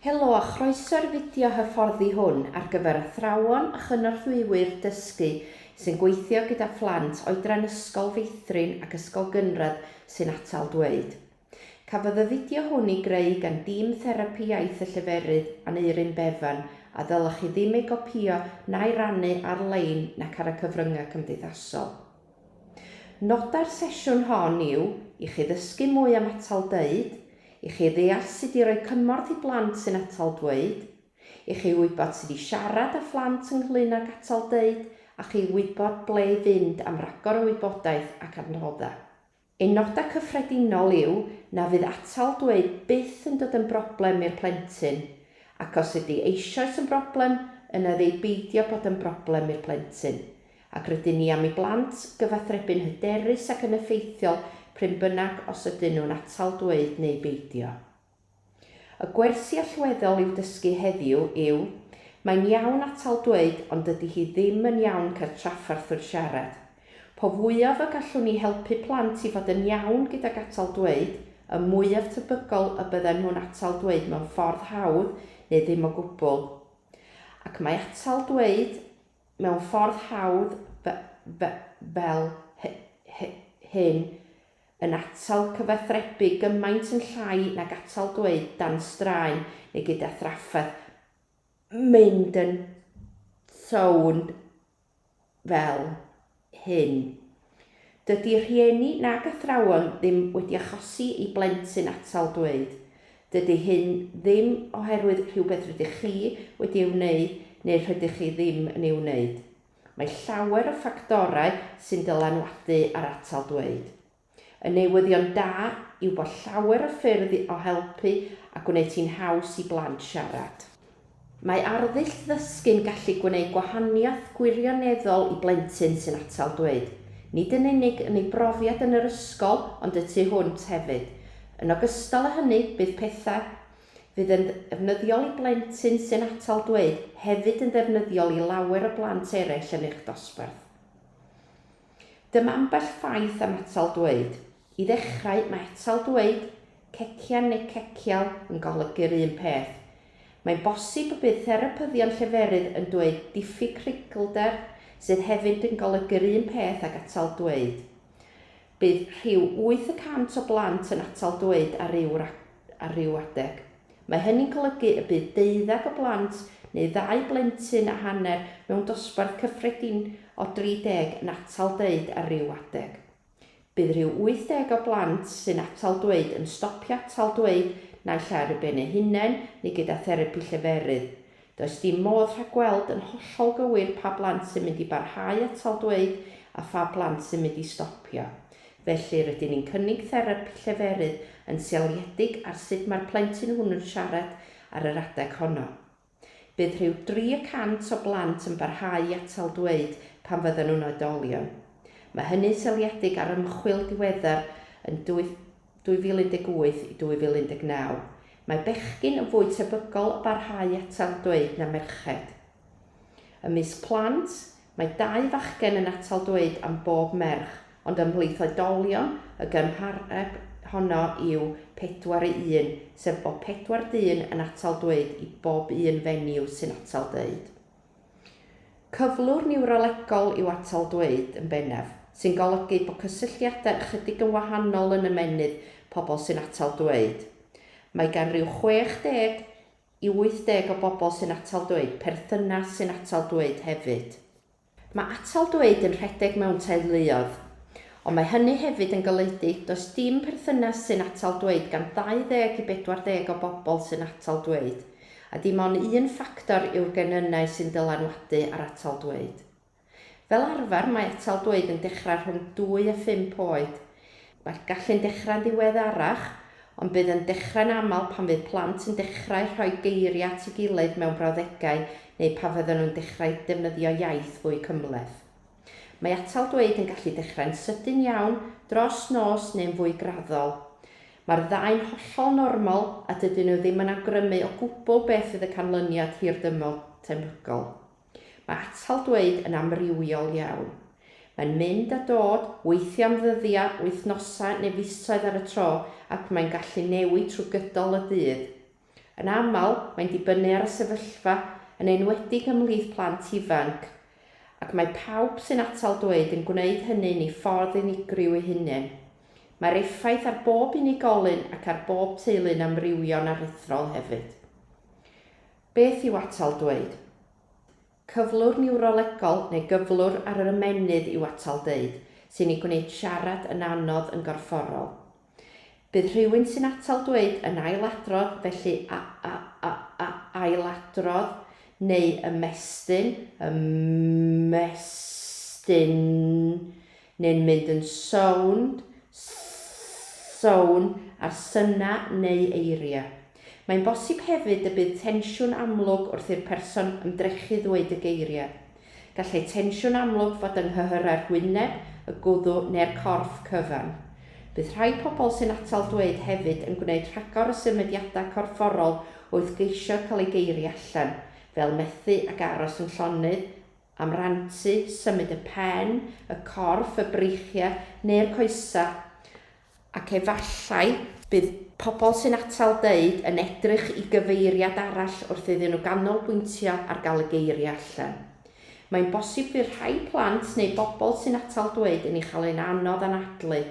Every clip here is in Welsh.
Helo a chroeso i'r fideo hyfforddi hwn ar gyfer athrawon a chynorthwywyr dysgu sy'n gweithio gyda phlant oedran Ysgol Feithrin ac Ysgol Gynradd sy'n atal dweud. Cafodd y fideo hwn ei greu gan dîm Therapi Iaith y Lleferydd, Aneurin Bevan, a ddylech chi ddim ei gopïo na'i rannu ar-lein nac ar y cyfryngau cymdeithasol. Nodau'r sesiwn hon yw i chi ddysgu mwy am atal dweud, i chi ddeall sut i roi cymorth i blant sy'n atal dweud, i chi wybod sut i siarad â phlant ynglŷn ag atal dweud a chi wybod ble i fynd am ragor o wybodaeth ac adnoddau. Ein nodau cyffredinol yw na fydd atal dweud byth yn dod yn broblem i'r plentyn, ac os ydy eisoes yn broblem, yna ef ei beidio bod yn broblem i'r plentyn, ac rydyn ni am i blant gyfathrebu'n hyderus ac yn effeithiol prin bynnag os ydyn nhw'n atal dweud neu beidio. Y gwersi allweddol i'w dysgu heddiw yw, Mae'n iawn atal dweud ond dydy hi ddim yn iawn cael trafferth wrth siarad. Po fwyaf y gallwn ni helpu plant i fod yn iawn gydag atal dweud, y mwyaf tebygol y bydden nhw'n atal dweud mewn ffordd hawdd neu ddim o gwbl. Ac mae atal dweud mewn ffordd hawdd fel hyn yn atal cyfathrebu gymaint yn llai nag atal dweud dan straen neu gyda thrafferth, mynd yn sownd fel hyn. Dydy rhieni nag athrawon ddim wedi achosi i blentyn atal dweud. Dydy hyn ddim oherwydd rhywbeth rydych chi wedi ei wneud neu rhydych chi ddim yn ei wneud. Mae llawer o ffactorau sy'n dylanwadu ar atal dweud. Y newyddion da yw bod llawer o ffyrdd o helpu a gwneud hi'n haws i blant siarad. Mae arddull ddysgu'n gallu gwneud gwahaniaeth gwirioneddol i blentyn sy'n atal dweud, nid yn unig yn ei brofiad yn yr ysgol ond y tu hwnt hefyd. Yn ogystal â hynny, bydd pethau. fydd yn ddefnyddiol i blentyn sy'n atal dweud hefyd yn ddefnyddiol i lawer o blant eraill yn eich dosbarth. Dyma ambell ffaith am atal dweud. I ddechrau, mae atal dweud, cecian neu cecial, yn golygu'r un peth. Mae'n bosib y bydd therapyddion lleferydd yn dweud diffyg creiglder, sydd hefyd yn golygu'r un peth ag atal dweud. Bydd rhyw wyth y cant o blant yn atal dweud ar ryw ar ryw adeg. Mae hynny'n golygu y bydd deuddeg o blant neu ddau blentyn a hanner mewn dosbarth cyffredin o 30 yn atal deud ar ryw adeg. Bydd rhyw 80 o blant sy'n atal dweud yn stopio atal dweud naill ai ar eu ben eu hunain neu gyda therapi lleferydd. Does dim modd rhagweld yn hollol gywir pa blant sy'n mynd i barhau atal dweud a pha blant sy'n mynd i stopio. Felly, rydyn ni'n cynnig therapi lleferydd yn seiliedig ar sut mae'r plentyn hwnnw'n siarad ar yr adeg honno. Bydd rhyw dri y cant o blant yn barhau i atal dweud pan fyddan nhw'n oedolion. Mae hynny'n seiliedig ar ymchwil diweddar yn 2018 i 2019, mae bechgyn yn fwy tebygol o barhau atal dweud na merched. Ymysg plant, mae dau fachgen yn atal dweud am bob merch, ond ymhlith oedolion, y gymhareb honno yw pedwar i un, sef bod pedwar dyn yn atal dweud i bob un fenyw sy'n atal dweud. Cyflwr niwrolegol yw atal dweud, yn bennaf, sy'n golygu bod cysylltiadau ychydig yn wahanol yn ymennydd pobl sy'n atal dweud. Mae gan ryw 60 i 80 o bobl sy'n atal dweud perthynas sy'n atal dweud hefyd. Mae atal dweud yn rhedeg mewn teuluoedd. Ond mae hynny hefyd yn golygu does dim perthynas sy'n atal dweud gan 20 i 40 o bobl sy'n atal dweud. A dim ond un ffactor yw'r genynnau sy'n dylanwadu ar atal dweud. Fel arfer mae atal dweud yn dechrau rhwng dwy a phump oed. Mae'r gallu'n dechrau'n ddiweddarach, ond bydd yn dechrau'n aml pan fydd plant yn dechrau rhoi geiriau at ei gilydd mewn brawddegau neu pan fyddan nhw'n dechrau defnyddio iaith fwy cymhleth. Mae atal dweud yn gallu dechrau'n sydyn iawn, dros nos neu'n fwy graddol. Mae'r ddau'n hollol normal a dydyn nhw ddim yn awgrymu o gwbl beth fydd y canlyniad hirdymor tebygol. Mae atal dweud yn amrywiol iawn. Mae'n mynd a dod, weithiau am ddyddiau, wythnosau neu fisoedd ar y tro ac mae'n gallu newid trwy gydol y dydd. Yn aml, mae'n dibynnu ar y sefyllfa, yn enwedig ymhlith plant ifanc, ac mae pawb sy'n atal dweud yn gwneud hynny'n ei ffordd unigryw ei hunain. Mae'r effaith ar bob unigolyn ac ar bob teulu'n amrywio'n aruthrol hefyd. Beth yw atal dweud? Cyflwr niwrolegol neu gyflwr ar yr ymennydd yw atal deud, sy'n ei gwneud siarad yn anodd yn gorfforol. Bydd rhywun sy'n atal dweud yn ailadrodd, felly a, a, a, a, ailadrodd, neu ymestyn, ymestyn, neu'n mynd yn sownd, sownd, ar synau neu eiriau. Mae'n bosib hefyd y bydd tensiwn amlwg wrth i'r person ymdrechu ddweud y geiriau. Gallai tensiwn amlwg fod yng nghyhyrau'r hwyneb, y gwddw neu'r corff cyfan. Bydd rhai pobl sy'n atal dweud hefyd yn gwneud rhagor o symudiadau corfforol wrth geisio cael eu geiriau allan, fel methu ac aros yn llonydd, am rantu, symud y pen, y corff, y breichiau neu'r coesau, ac efallai bydd pobl sy'n atal deud yn edrych i gyfeiriad arall wrth iddyn nhw ganolbwyntio ar gael y geiriau allan. Mae'n bosib fydd rhai plant neu bobl sy'n atal dweud yn ei chael e'n anodd anadlu.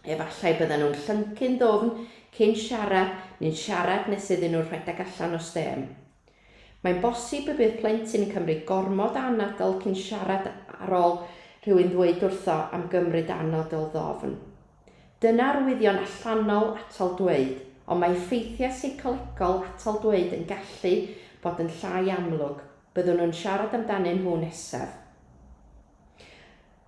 Efallai bydden nhw'n llyncu'n ddwfn cyn siarad neu'n siarad nes iddyn nhw rhedeg allan o stêm. Mae'n bosib y bydd plentyn yn cymryd gormod o anadl cyn siarad ar ôl rhywun ddweud wrtho am gymryd anadl ddofn. Dyna arwyddion allanol atal dweud, ond mae effeithiau seicolegol atal dweud yn gallu bod yn llai amlwg, byddwn nhw'n siarad amdanyn nhw nesaf.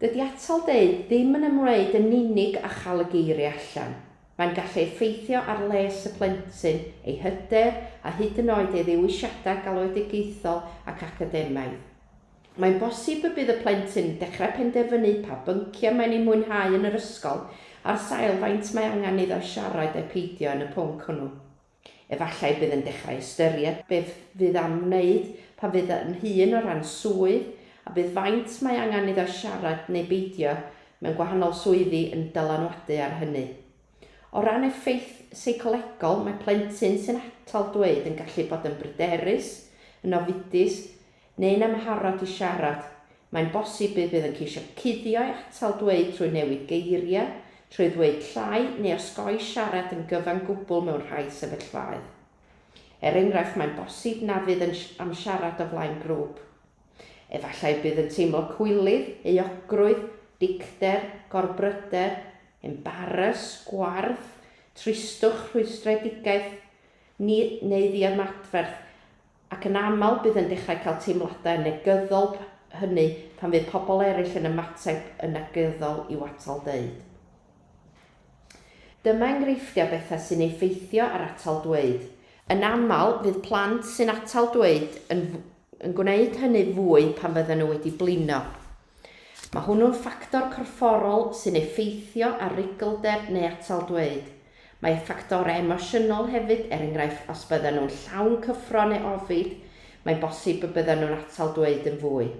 Dydy atal deud ddim yn ymwneud yn unig â chael y geiriau allan. Mae'n gallu effeithio ar les y plentyn, ei hyder a hyd yn oed ei ddewisiadau galwedigaethol ac academaidd. Mae'n bosib y bydd y plentyn yn dechrau penderfynu pa bynciau mae'n eu mwynhau yn yr ysgol ar sail faint mae angen iddo siarad ai peidio yn y pwnc hwnnw. Efallai bydd yn dechrau ystyried beth fydd am wneud pan fydd yn hŷn o ran swydd, a bydd faint mae angen iddo siarad neu beidio mewn gwahanol swyddi yn dylanwadu ar hynny. O ran effaith seicolegol, mae plentyn sy'n atal dweud yn gallu bod yn bryderus, yn ofidus, neu'n amharod i siarad, mae'n bosib bydd bydd yn ceisio cuddio'i atal dweud trwy newid geiriau, trwy ddweud llai neu osgoi siarad yn gyfan gwbl mewn rhai sefyllfaoedd. Er enghraifft, mae'n bosib na fydd yn am siarad o flaen grŵp. Efallai bydd yn teimlo cwilydd, euogrwydd, dicter, gorbryder, embaras, gwarth, tristwch, rhwystredigaeth, ni, neu ddiymadferth, ac yn aml bydd yn dechrau cael teimladau negyddol hynny pan fydd pobl eraill yn ymateb yn negyddol i'w atal deud. Dyma enghreifftiau bethau sy'n effeithio ar atal dweud. Yn aml, fydd plant sy'n atal dweud yn, yn gwneud hynny fwy pan fydden nhw wedi blino. Mae hwnnw'n ffactor corfforol sy'n effeithio ar ruglder neu atal dweud. Mae ffactorau emosiynol hefyd, er enghraifft os byddan nhw'n llawn cyffro neu ofid, mae'n bosib y byddan nhw'n atal dweud yn fwy.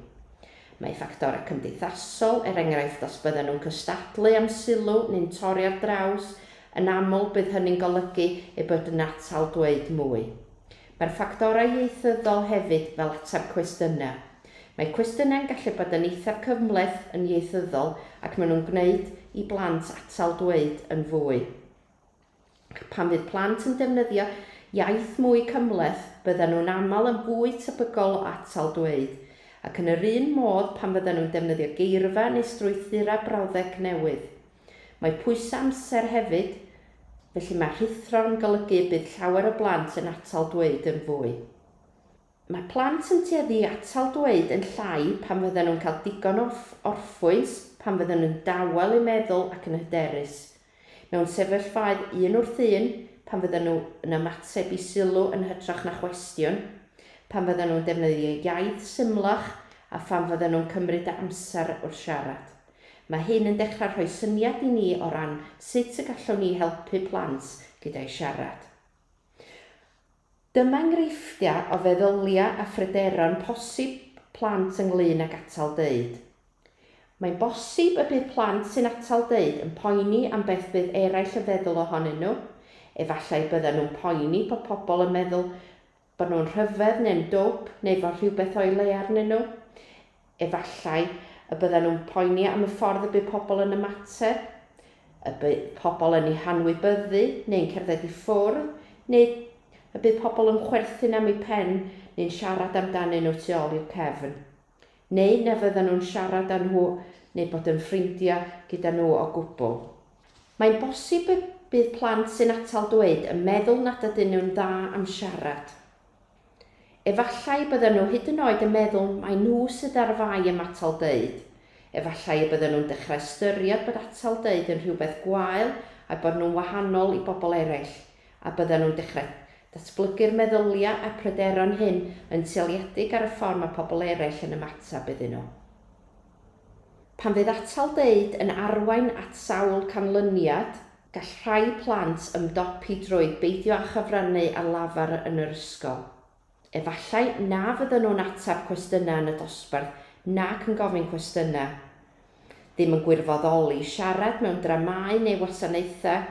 Mae ffactorau cymdeithasol, er enghraifft os byddan nhw'n cystadlu am sylw neu'n torri ar draws, yn aml bydd hynny'n golygu eu bod yn atal dweud mwy. Mae'r ffactorau ieithyddol hefyd fel ateb cwestiynau. Mae cwestiynau'n gallu bod yn eithaf cymhleth yn ieithyddol ac maen nhw'n gwneud i blant atal dweud yn fwy. Ac pan fydd plant yn defnyddio iaith mwy cymhleth, byddan nhw'n aml yn fwy tebygol o atal dweud. Ac yn yr un modd pan fyddan nhw'n defnyddio geirfa neu strwythurau brawddeg newydd. Mae pwysau amser hefyd, felly mae rhuthro'n golygu y bydd llawer o blant yn atal dweud yn fwy. Mae plant yn tueddu i atal dweud yn llai pan fyddan nhw'n cael digon o orffwys, pan fyddan nhw'n dawel eu meddwl ac yn hyderus. Mewn sefyllfaoedd un wrth un, pan fyddan nhw yn ymateb i sylw yn hytrach na chwestiwn, pan fyddan nhw'n defnyddio iaith symlach a phan fyddan nhw'n cymryd amser wrth siarad. Mae hyn yn dechrau rhoi syniad i ni o ran sut y gallwn ni helpu plant gyda'u siarad. Dyma enghreifftiau o feddyliau a phryderon posib plant ynglŷn ag atal deud. Mae'n bosib y bydd plant sy'n atal deud yn poeni am beth fydd eraill yn feddwl ohonyn nhw, efallai byddan nhw'n poeni bod pobl yn meddwl Bod nhw'n rhyfedd neu'n dwp neu fod rhywbeth o'i le arnyn nhw? Efallai y byddan nhw'n poeni am y ffordd y bydd pobl yn ymateb, y bydd pobl yn eu hanwybyddu neu'n cerdded i ffwrdd, neu y bydd pobl yn chwerthin am eu pen neu'n siarad amdanyn nhw tu ôl i'w cefn. neu na fyddan nhw'n siarad â nhw neu bod yn ffrindiau gyda nhw o gwbl. Mae'n bosib y bydd plant sy'n atal dweud yn meddwl nad ydyn nhw'n dda am siarad. Efallai y byddan nhw hyd yn oed yn meddwl mai nhw sydd ar fai am atal deud, efallai y byddan nhw'n dechrau ystyried bod atal deud yn rhywbeth gwael a'u bod nhw'n wahanol i bobl eraill. a byddan nhw'n dechrau datblygu'r meddyliau a'r pryderon hyn yn seiliedig ar y ffordd mae pobl eraill yn ymateb iddyn nhw. Pan fydd atal deud yn arwain at sawl canlyniad, gall rhai plant ymdopi drwy beidio â chyfrannu ar lafar yn yr ysgol. Efallai na fyddan nhw'n ateb cwestiynau yn y dosbarth nac yn gofyn cwestiynau. Ddim yn gwirfoddoli, siarad mewn dramâu neu wasanaethau,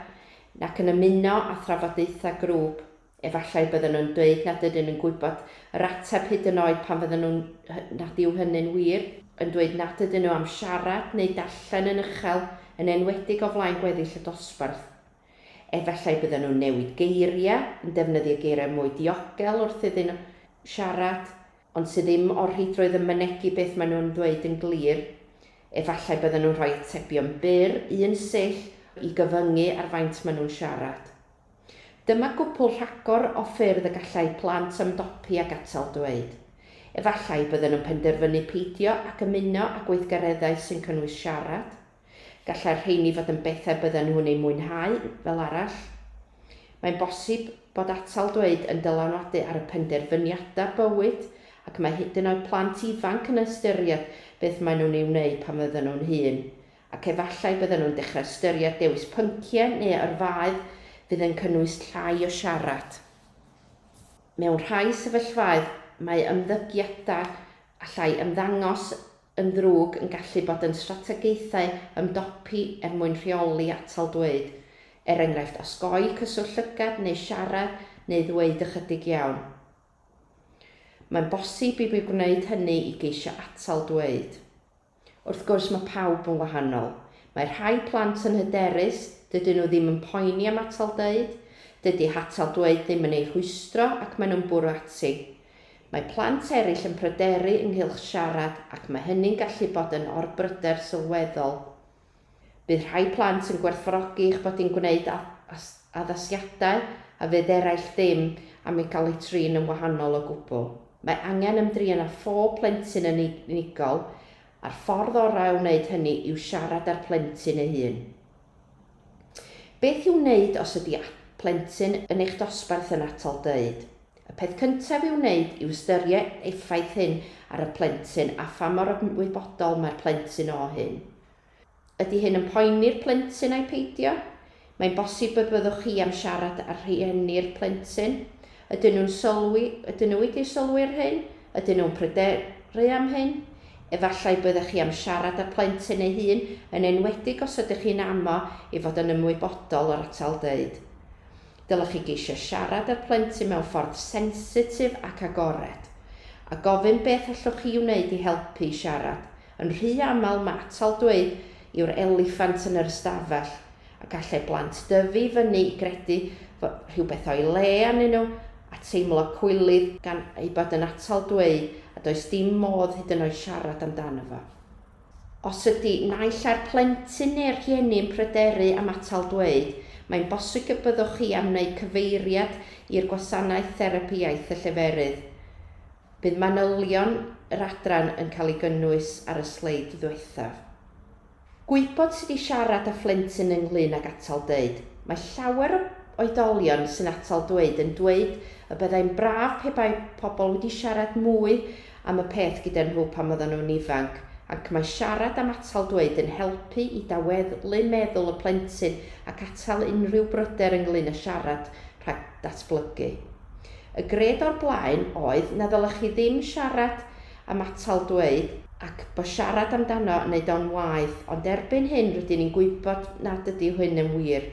nac yn ymuno â thrafodaethau grŵp. Efallai byddan nhw'n dweud nad ydyn nhw'n gwybod yr ateb hyd yn oed pan fyddan nhw'n, nad yw hynny'n wir, yn dweud nad ydyn nhw am siarad neu darllen yn uchel, yn enwedig o flaen gweddill y dosbarth. Efallai bydden nhw'n newid geiriau, yn defnyddio geiriau mwy diogel wrth iddyn nhw siarad, ond sydd ddim o'r rheidrwydd yn mynegi beth maen nhw'n ddweud yn glir. Efallai bydden nhw'n rhoi atebion byr, un sill, i gyfyngu ar faint maen nhw'n siarad. Dyma gwpwl rhagor o ffyrdd y gallai plant ymdopi ag atal dweud. Efallai bydden nhw'n penderfynu peidio ac ymuno â gweithgareddau sy'n cynnwys siarad. Gallai'r rheini fod yn bethau bydden nhw'n eu mwynhau, fel arall. Mae'n bosib bod atal dweud yn dylanwadu ar y penderfyniadau bywyd, ac mae hyd yn oed plant ifanc yn ystyried beth maen nhw'n ei wneud pan fydden nhw'n hŷn, ac efallai bydden nhw'n dechrau ystyried dewis pynciau neu yrfaoedd fydd yn cynnwys llai o siarad. Mewn rhai sefyllfaoedd, mae ymddygiadau allai ymddangos yn ddrwg yn gallu bod yn strategaethau ymdopi er mwyn rheoli atal dweud, er enghraifft osgoi cyswllt llygad neu siarad neu ddweud ychydig iawn. Mae'n bosib i mi wneud hynny i geisio atal dweud. Wrth gwrs, mae pawb yn wahanol. Mae rhai plant yn hyderus, dydyn nhw ddim yn poeni am atal dweud, dydy hatal dweud ddim yn eu rhwystro ac maen nhw'n bwrw ati. Mae plant eraill yn pryderu ynghylch siarad ac mae hynny'n gallu bod yn orbryder sylweddol. Bydd rhai plant yn gwerthfawrogi eich bod yn gwneud addasiadau a fydd eraill ddim am ei gael ei trin yn wahanol o gwbl. Mae angen ymdrin â phob plentyn yn unigol, a'r ffordd orau o wneud hynny yw siarad â'r plentyn ei hun. Beth i'w wneud os ydi plentyn yn eich dosbarth yn atal dweud? Y peth cyntaf i'w wneud yw ystyried effaith hyn ar y plentyn a pha mor ymwybodol mae'r plentyn o hyn. Ydi hyn yn poeni'r plentyn ai peidio? Mae'n bosib y byddwch chi am siarad â rhieni'r plentyn Ydyn nhw'n sylwi, ydyn nhw wedi sylwi ar hyn? Ydyn nhw'n pryderu am hyn? Efallai byddech chi am siarad â'r plentyn ei hun, yn enwedig os ydych chi'n amo i fod yn ymwybodol o'r atal dweud. Dylech chi geisio siarad â'r plentyn mewn ffordd sensitif ac agored, a gofyn beth allwch chi wneud i helpu i siarad. Yn rhy aml mae atal dweud yw'r eliffant yn yr ystafell, a gallai blant dyfu i fyny i gredu fod rhywbeth o'i le arnyn nhw, a teimlo cwilydd gan ei bod yn atal dweud a does dim modd hyd yn oed siarad amdano fo. Os ydy naill ai'r plentyn neu'r rhieni yn pryderu am atal dweud, mae'n bosig y byddwch chi am wneud cyfeiriad i'r gwasanaeth therapi iaith y lleferydd. Bydd manylion yr adran yn cael ei gynnwys ar y sleid ddiwethaf. Gwybod sut i siarad â phlentyn ynglŷn ag atal dweud. Mae llawer o oedolion sy'n atal dweud yn dweud y byddai'n braf pe bai pobl wedi siarad mwy am y peth gyda nhw pan oedden nhw'n ifanc, ac mae siarad am atal dweud yn helpu i daweddlu meddwl y plentyn ac atal unrhyw bryder ynglŷn â siarad rhag datblygu. Y gred o'r blaen oedd na ddylech chi ddim siarad am atal dweud, ac bo siarad amdano yn neud o'n waeth, ond erbyn hyn rydyn ni'n gwybod nad ydy hyn yn wir.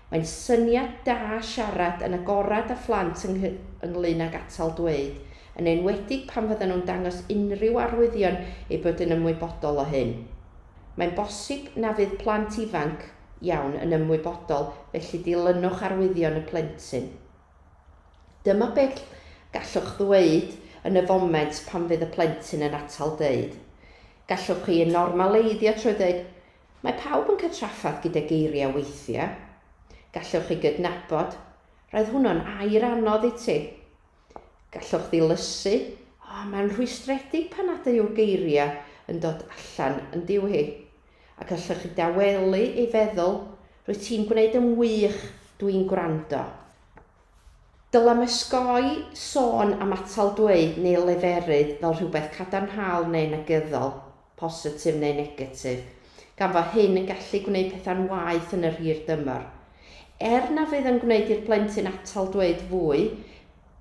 Mae'n syniad da siarad yn agorad â phlant yng ynglŷn ag atal dweud, yn enwedig pan fyddan nhw'n dangos unrhyw arwyddion eu bod yn ymwybodol o hyn. Mae'n bosib na fydd plant ifanc iawn yn ymwybodol, felly dilynwch arwyddion y plentyn. Dyma beth gallwch ddweud yn y foment pan fydd y plentyn yn atal dweud. Gallwch chi ei normaleiddio trwy ddweud, Mae pawb yn cael trafferth gyda geiriau weithiau. Gallwch chi gydnabod, Roedd hwnnw'n air anodd i ti. Gallwch ddilysu, O, mae'n rhwystredig pan nad yw'r geiriau yn dod allan yn diw hi. Ac allech chi dawelu ei feddwl, Rwyt ti'n gwneud yn wych, dw i'n gwrando. Dylem osgoi sôn am atal dweud neu leferydd fel rhywbeth cadarnhaol neu negyddol, positif neu negatif, gan fo hyn yn gallu gwneud pethau'n waeth yn yr hir dymor. Er na fydd yn gwneud i'r plentyn atal dweud fwy,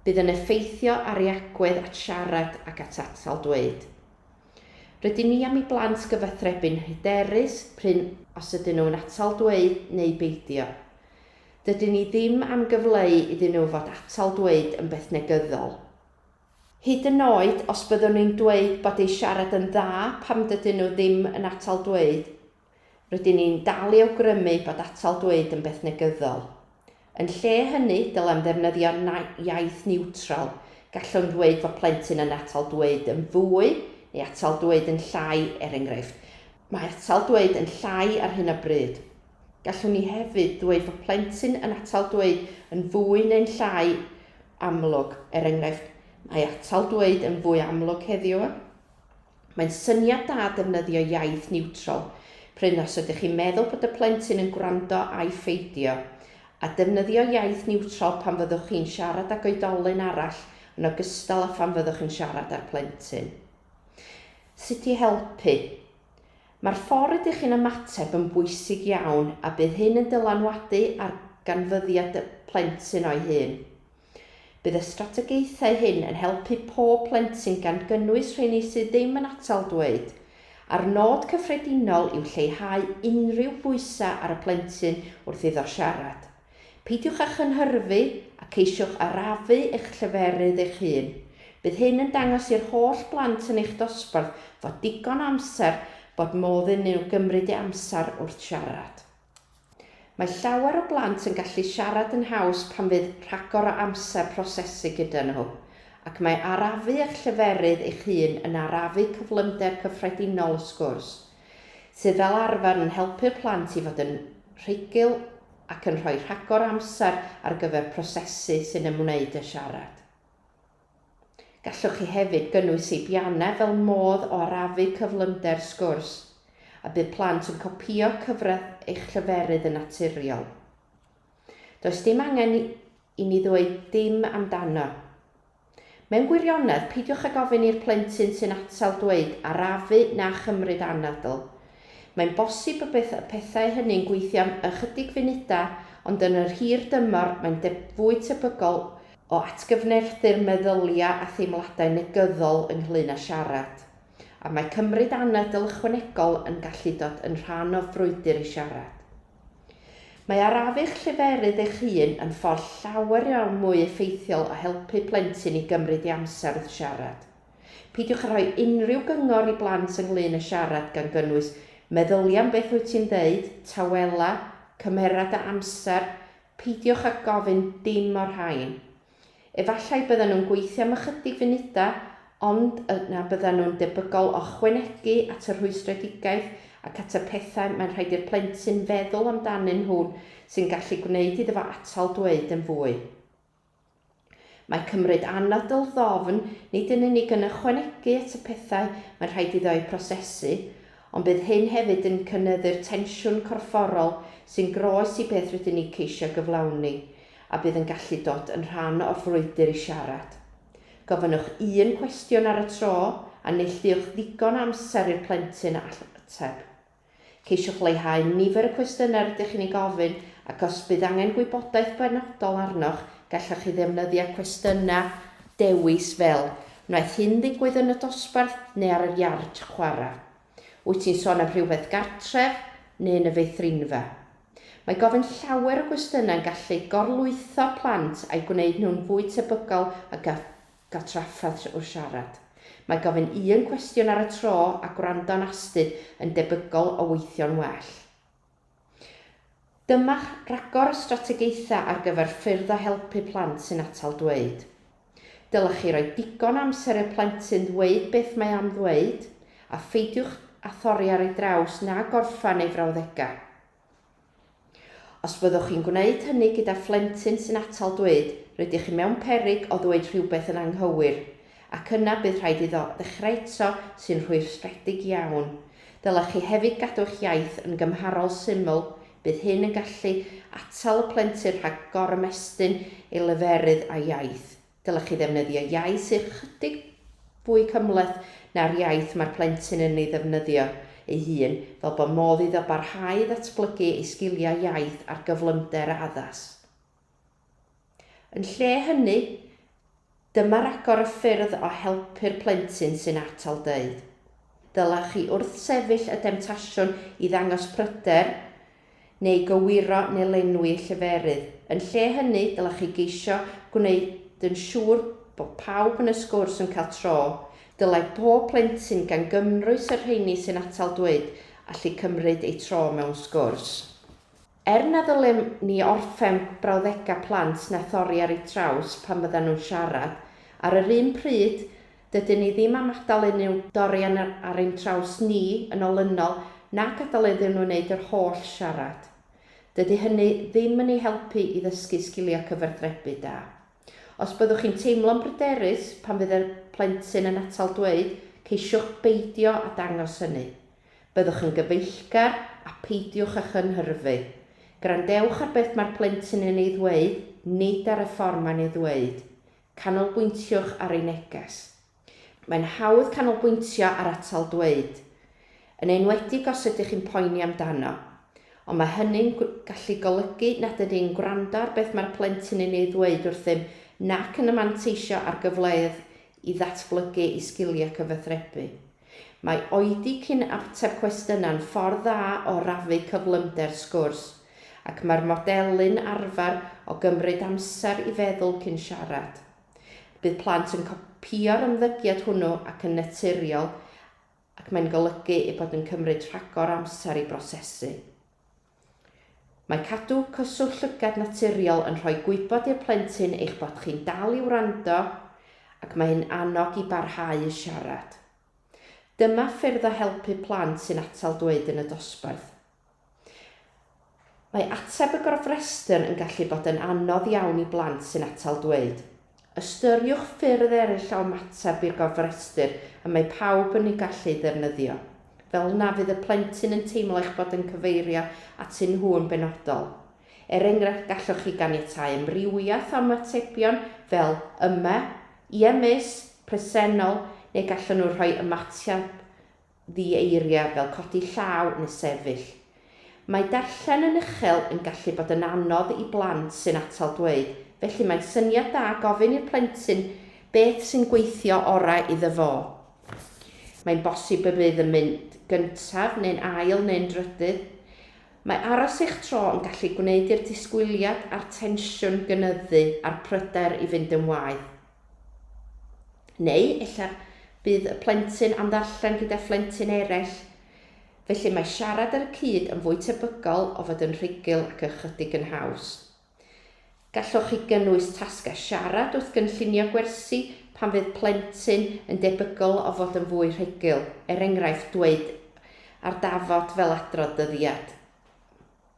bydd yn effeithio ar ei agwedd at siarad ac at atal dweud. Rydyn ni am i blant gyfathrebu'n hyderus prin os ydyn nhw'n atal dweud neu beidio. Dydyn ni ddim am gyfleu iddyn nhw fod atal dweud yn beth negyddol. Hyd yn oed os byddwn ni'n dweud bod eu siarad yn dda pam dydyn nhw ddim yn atal dweud, Rydyn ni'n dal i awgrymu bod atal dweud yn beth negyddol. Yn lle hynny, dylem ddefnyddio iaith niwtral, gallwn ddweud fod plentyn yn atal dweud yn fwy neu atal dweud yn llai, er enghraifft, Mae atal dweud yn llai ar hyn o bryd. Gallwn ni hefyd ddweud fod plentyn yn atal dweud yn fwy neu'n llai amlwg, er enghraifft, Mae atal dweud yn fwy amlwg heddiw. Mae'n syniad da defnyddio iaith niwtral, prin os ydych chi'n meddwl bod y plentyn yn gwrando ai pheidio, a defnyddio iaith niwtral pan fyddwch chi'n siarad ag oedolyn arall yn ogystal â phan fyddwch yn siarad â'r plentyn. Sut i helpu. Mae'r ffordd rydych chi'n ymateb yn bwysig iawn a bydd hyn yn dylanwadu ar ganfyddiad y plentyn o'i hun. Bydd y strategaethau hyn yn helpu pob plentyn gan gynnwys rheini sydd ddim yn atal dweud, a'r nod cyffredinol yw lleihau unrhyw bwysau ar y plentyn wrth iddo siarad. Peidiwch â chynhyrfu a ceisiwch arafu eich lleferydd eich hun. Bydd hyn yn dangos i'r holl blant yn eich dosbarth fod digon o amser bod modd iddyn nhw gymryd eu amser wrth siarad. Mae llawer o blant yn gallu siarad yn haws pan fydd rhagor o amser prosesu gyda nhw, ac mae arafu eich lleferydd eich hun yn arafu cyflymder cyffredinol y sgwrs, sydd fel arfer yn helpu'r plant i fod yn rhugl ac yn rhoi rhagor o amser ar gyfer prosesu sy'n ymwneud â siarad. Gallwch chi hefyd gynnwys seibiannau fel modd o arafu cyflymder sgwrs, a bydd plant yn copïo cyfradd eich lleferydd yn naturiol. Does dim angen i ni ddweud dim amdano. Mewn gwirionedd, peidiwch ag ofyn i'r plentyn sy'n atal dweud 'arafu' na 'chymryd anadl'. Mae'n bosib y bydd y pethau hynny'n gweithio am ychydig funudau, ond yn yr hir dymor mae'n fwy tebygol o atgyfnerthu'r meddyliau a theimladau negyddol ynglŷn â siarad, a mae cymryd anadl ychwanegol yn gallu dod yn rhan o frwydr i siarad. Mae arafu'ch lleferydd eich hun yn ffordd llawer iawn mwy effeithiol o helpu plentyn i gymryd ei amser wrth siarad. Peidiwch â rhoi unrhyw gyngor i blant ynglŷn â siarad gan gynnwys meddylia am beth wyt ti'n ddeud, tawela, cymera dy amser, Peidiwch â gofyn dim o'r rhain. Efallai byddan nhw'n gweithio am ychydig funudau, ond yna byddan nhw'n debygol o ychwanegu at y rhwystredigaeth ac at y pethau mae'n rhaid i'r plentyn feddwl amdanyn nhw sy'n gallu gwneud iddo fo atal dweud yn fwy. Mae cymryd anadl ddofn nid yn unig yn ychwanegu at y pethau mae'n rhaid iddo eu prosesu, ond bydd hyn hefyd yn cynyddu'r tensiwn corfforol sy'n groes i beth rydyn ni ceisio gyflawni, a bydd yn gallu dod yn rhan o'r frwydr i siarad. Gofynnwch un cwestiwn ar y tro, a neilltuwch ddigon o amser i'r plentyn ateb. Ceisiwch leihau nifer y cwestiynau rydych chi'n eu gofyn ac os bydd angen gwybodaeth benodol arnoch, gallwch chi ddefnyddio cwestiynau dewis fel, Wnaeth hyn ddigwydd yn y dosbarth neu ar yr iard chwarae? Wyt ti'n sôn am rhywbeth gartref neu yn y feithrinfa? Mae gofyn llawer o gwestiynau'n gallu gorlwytho plant a'i gwneud nhw'n fwy tebygol o gael Cael trafferth trwy'r siarad. Mae gofyn un cwestiwn ar y tro a gwrando'n astud yn debygol o weithio'n well. Dyma'ch rhagor o strategaethau ar gyfer ffyrdd o helpu plant sy'n atal dweud. Dylech chi roi digon o amser i'r plentyn ddweud beth mae am ddweud, a pheidiwch â thorri ar ei draws na gorffen ei frawddegau. Os byddwch chi'n gwneud hynny gyda phlentyn sy'n atal dweud, rydych chi mewn peryg o ddweud rhywbeth yn anghywir, ac yna bydd rhaid iddo ddechrau eto, sy'n rhwystredig iawn. Dylech chi hefyd gadw eich iaith yn gymharol syml, bydd hyn yn gallu atal y plentyn rhag gorymestyn ei leferydd a'i iaith. Dylech chi ddefnyddio iaith sydd ychydig fwy cymhleth na'r iaith mae'r plentyn yn ei ddefnyddio ei hun, fel bod modd iddo barhau i ddatblygu ei sgiliau iaith ar gyflymder a addas. Yn lle hynny, dyma ragor o ffyrdd o helpu'r plentyn sy'n atal dweud. Dylech chi wrthsefyll y demtasiwn i ddangos pryder neu gywiro neu lenwi lleferydd. Yn lle hynny, dylech chi geisio gwneud yn siŵr bod pawb yn y sgwrs yn cael tro. Dylai pob plentyn, gan gymrwys y rheini sy'n atal dweud, allu cymryd eu tro mewn sgwrs. Er na ddylem ni orffen brawddegau plant na thorri ar eu traws pan fyddan nhw'n siarad, ar yr un pryd, Dydyn ni ddim am adael unrhyw dorian ar ein traws ni yn olynol na gadael iddyn nhw wneud yr holl siarad. Dydy hynny ddim yn eu helpu i ddysgu sgiliau cyfathrebu da. Os byddwch chi'n teimlo'n bryderus pan fydd y plentyn yn atal dweud, ceisiwch beidio â dangos hynny. Byddwch yn gyfeillgar a pheidiwch â chynhyrfu. Gwrandewch ar beth mae'r plentyn yn ei ddweud, nid ar y ffordd mae'n ei ddweud. Canolbwyntiwch ar ei neges. Mae'n hawdd canolbwyntio ar atal dweud, yn enwedig os ydych chi'n poeni amdano, ond mae hynny'n gallu golygu nad ydyn ni'n gwrando ar beth mae'r plentyn yn ei ddweud wrthym nac yn manteisio ar gyfleoedd i ddatblygu ei sgiliau cyfathrebu. Mae oedi cyn ateb cwestiynau'n ffordd dda o rafu cyflymder sgwrs, ac mae'r modelu'n arfer o gymryd amser i feddwl cyn siarad. Bydd plant yn copïo'r ymddygiad hwnnw ac yn naturiol ac mae'n golygu eu bod yn cymryd rhagor o amser i brosesu. Mae cadw cyswllt llygad naturiol yn rhoi gwybod i'r plentyn eich bod chi'n dal i wrando ac mae hyn annog i barhau i siarad. Dyma ffyrdd o helpu plant sy'n atal dweud yn y dosbarth. Mae ateb y gofrestr yn gallu bod yn anodd iawn i blant sy'n atal dweud. Ystyriwch ffyrdd eraill o ymateb i'r gofrestr y mae pawb yn ei gallu ei ddefnyddio. Fel na fydd y plentyn yn teimlo eich bod yn cyfeirio atyn nhw yn benodol. Er enghraifft, gallwch chi ganiatáu amrywiaeth o ymatebion fel 'Yma', 'Ie Miss', 'Presennol', neu gallwn nhw rhoi ymateb ddi-eiriau fel codi llaw neu sefyll. Mae darllen yn uchel yn gallu bod yn anodd i blant sy'n atal dweud, felly mae'n syniad da gofyn i'r plentyn beth sy'n gweithio orau iddo fo. Mae'n bosib y bydd yn mynd gyntaf neu'n ail neu'n drydydd. Mae aros eich tro yn gallu gwneud i'r disgwyliad a'r tensiwn gynyddu a'r pryder i fynd yn waeth. Neu ella bydd y plentyn am ddarllen gyda phlentyn eraill. Felly mae siarad ar y cyd yn fwy tebygol o fod yn rhugl ac ychydig yn haws. Gallwch chi gynnwys tasgau siarad wrth gynllunio gwersi pan fydd plentyn yn debygol o fod yn fwy rhugl, er enghraifft dweud ar dafod fel adrodd dyddiad,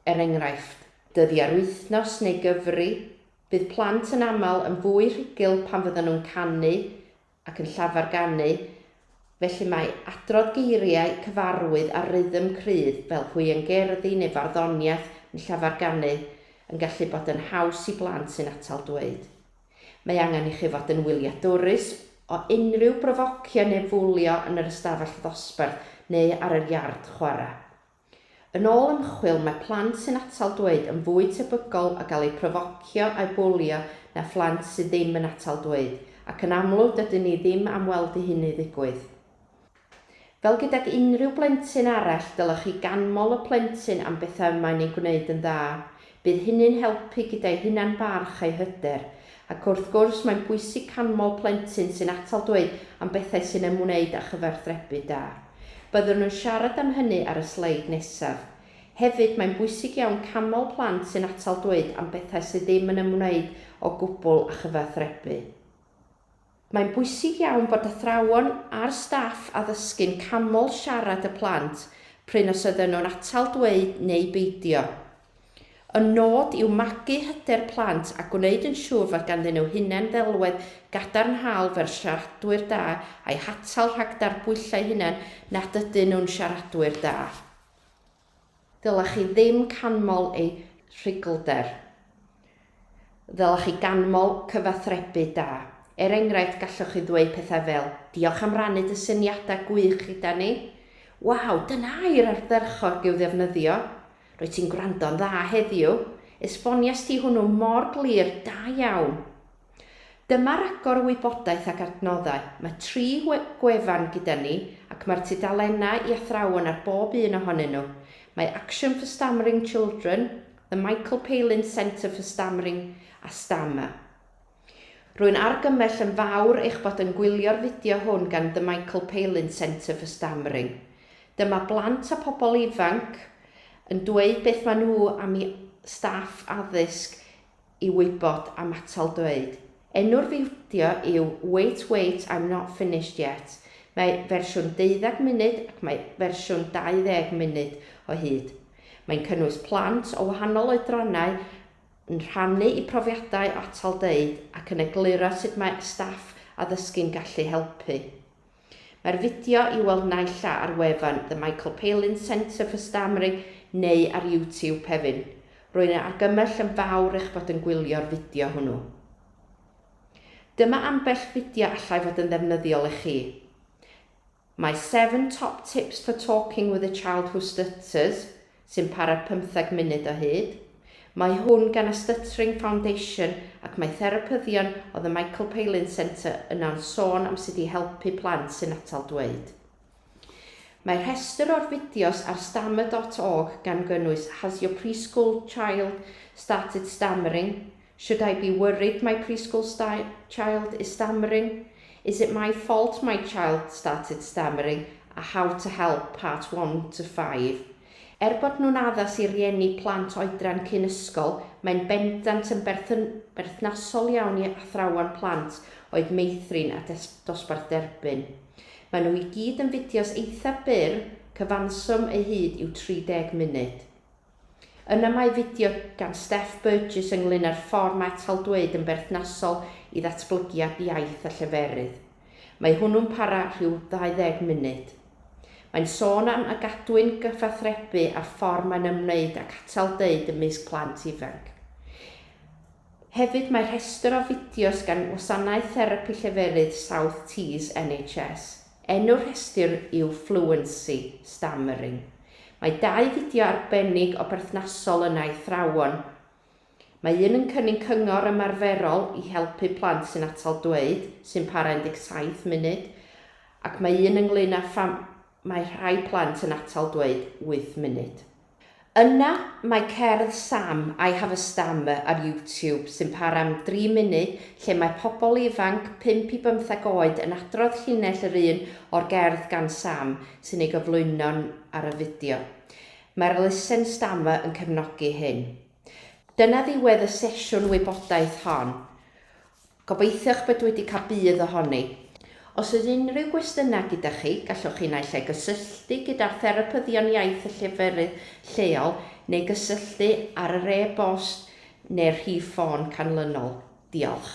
er enghraifft. Dyddiau'r wythnos neu gyfri. Bydd plant yn aml yn fwy rhugl pan fyddan nhw'n canu ac yn llafar ganu, felly mae adrodd geiriau cyfarwydd a rhythm cryf fel hwiangerddi neu farddoniaeth yn llafar ganu yn gallu bod yn haws i blant sy'n atal dweud. Mae angen i chi fod yn wyliadwrus o unrhyw brofocio neu fwlio yn yr ystafell ddosbarth neu ar yr iard chwarae. Yn ôl ymchwil, mae plant sy'n atal dweud yn fwy tebygol o gael eu profocio a'u bwlio na phlant sydd ddim yn atal dweud, ac yn amlwg dydyn ni ddim am weld i hynny ddigwydd. Fel gydag unrhyw blentyn arall, dylech chi ganmol y plentyn am bethau y mae'n eu gwneud yn dda. Bydd hynny'n helpu gyda'u hunan-barch a'u hyder. Ac wrth gwrs, mae'n bwysig canmol plentyn sy'n atal dweud am bethau sy'n ymwneud â chyfathrebu da. Byddwn yn siarad am hynny ar y sleid nesaf. Hefyd, mae'n bwysig iawn canmol plant sy'n atal dweud am bethau sydd ddim yn ymwneud o gwbl â chyfathrebu. Mae'n bwysig iawn bod athrawon a'r staff addysgu'n canmol siarad y plant prin os ydyn nhw'n atal dweud neu beidio. Y nod yw magu hyder plant a gwneud yn siŵr fod ganddyn nhw hunan-ddelwedd gadarnhaol fel siaradwyr da a'u hatal rhag darbwyllo eu hunain nad ydyn nhw'n siaradwyr da. Ddylech chi ddim canmol eu rhuglder. Ddylech chi ganmol cyfathrebu da. Er enghraifft, gallwch chi ddweud pethau fel, Diolch am rannu dy syniadau gwych gyda ni. Waw, dyna air ardderchog i'w ddefnyddio. Rwyt ti'n gwrando'n dda heddiw. Esbonies ti hwnnw mor glir, da iawn. Dyma ragor o wybodaeth ac adnoddau. Mae tri gwefan gyda ni ac mae'r tudalennau i athrawon ar bob un ohonyn nhw. Mae Action for Stammering Children, The Michael Palin Centre for Stammering a Stammer. Rwy'n argymell yn fawr eich bod yn gwylio'r fideo hwn gan The Michael Palin Centre for Stammering. Dyma blant a pobl ifanc yn dweud beth maen nhw am i staff addysg i wybod am atal dweud. Enw'r fideo yw Wait Wait I'm Not Finished Yet, mae fersiwn deuddeg munud ac mae fersiwn 20 munud o hyd. Mae'n cynnwys plant o wahanol oedrannau yn rhannu eu profiadau o atal dweud ac yn egluro sut mae staff addysgu'n gallu helpu. Mae'r fideo i'w weld naill a ar wefan The Michael Palin Centre for Stammering neu ar YouTube, Pevin. Rwy'n ei argymell yn fawr eich bod yn gwylio'r fideo hwnnw. Dyma ambell fideo allai fod yn ddefnyddiol i chi. My 7 Top Tips for Talking with a Child Who Stutters, sy'n para pymtheg munud o hyd. Mae hwn gan y Stuttering Foundation ac mae therapyddion o The Michael Palin Centre yno'n sôn am sut i helpu plant sy'n atal dweud. Mae rhestr o'r fideos ar stammer dot org gan gynnwys Has your preschool child started stammering? Should I be worried my preschool child is stammering? Is it my fault my child started stammering? a How to Help, Part One to Five. Er bod nhw'n addas i rieni plant oedran cyn ysgol, mae'n bendant yn berthnasol iawn i athrawon plant oed meithrin a dosbarth derbyn. Maen nhw i gyd yn fideos eitha' byr, cyfanswm eu hyd yw 30 munud. Yna mae fideo gan Steph Burgess ynglŷn â'r ffordd mae taldweud yn berthnasol i ddatblygiad iaith a lleferydd. Mae hwnnw'n para rhyw 20 munud. Mae'n sôn am a gadwyn gyfathrebu a'r ffordd mae'n ymwneud ac atal deud ymysg plant ifanc. Hefyd mae rhestr o fideos gan Wasanaeth Therapi Lleferydd South Tees NHS. Enw'r rhestr yw Fluency, Stammering. Mae dau fideo arbennig o berthnasol yna i athrawon. Mae un yn cynnig cyngor ymarferol i helpu plant sy'n atal dweud, sy'n para 17 munud, ac mae un ynglŷn â pham mae rhai plant yn atal dweud 8 munud. Yna mae cerdd Sam, I Have a Stammer ar YouTube sy'n para am dri munud lle mae pobl ifanc pump i bymtheg oed yn adrodd llinell yr un o'r gerdd gan Sam sy'n ei gyflwyno ar y fideo. Mae'r Listen Stammer yn cefnogi hyn. Dyna ddiwedd y sesiwn wybodaeth hon. Gobeithiwch bod wedi cael budd ohoni. Os oes unrhyw gwestiynau gyda chi, gallwch chi naill ai gysylltu gyda'r Therapyddion Iaith y lleferydd lleol neu gysylltu ar yr e-bost neu'r rhif ffôn canlynol. Diolch.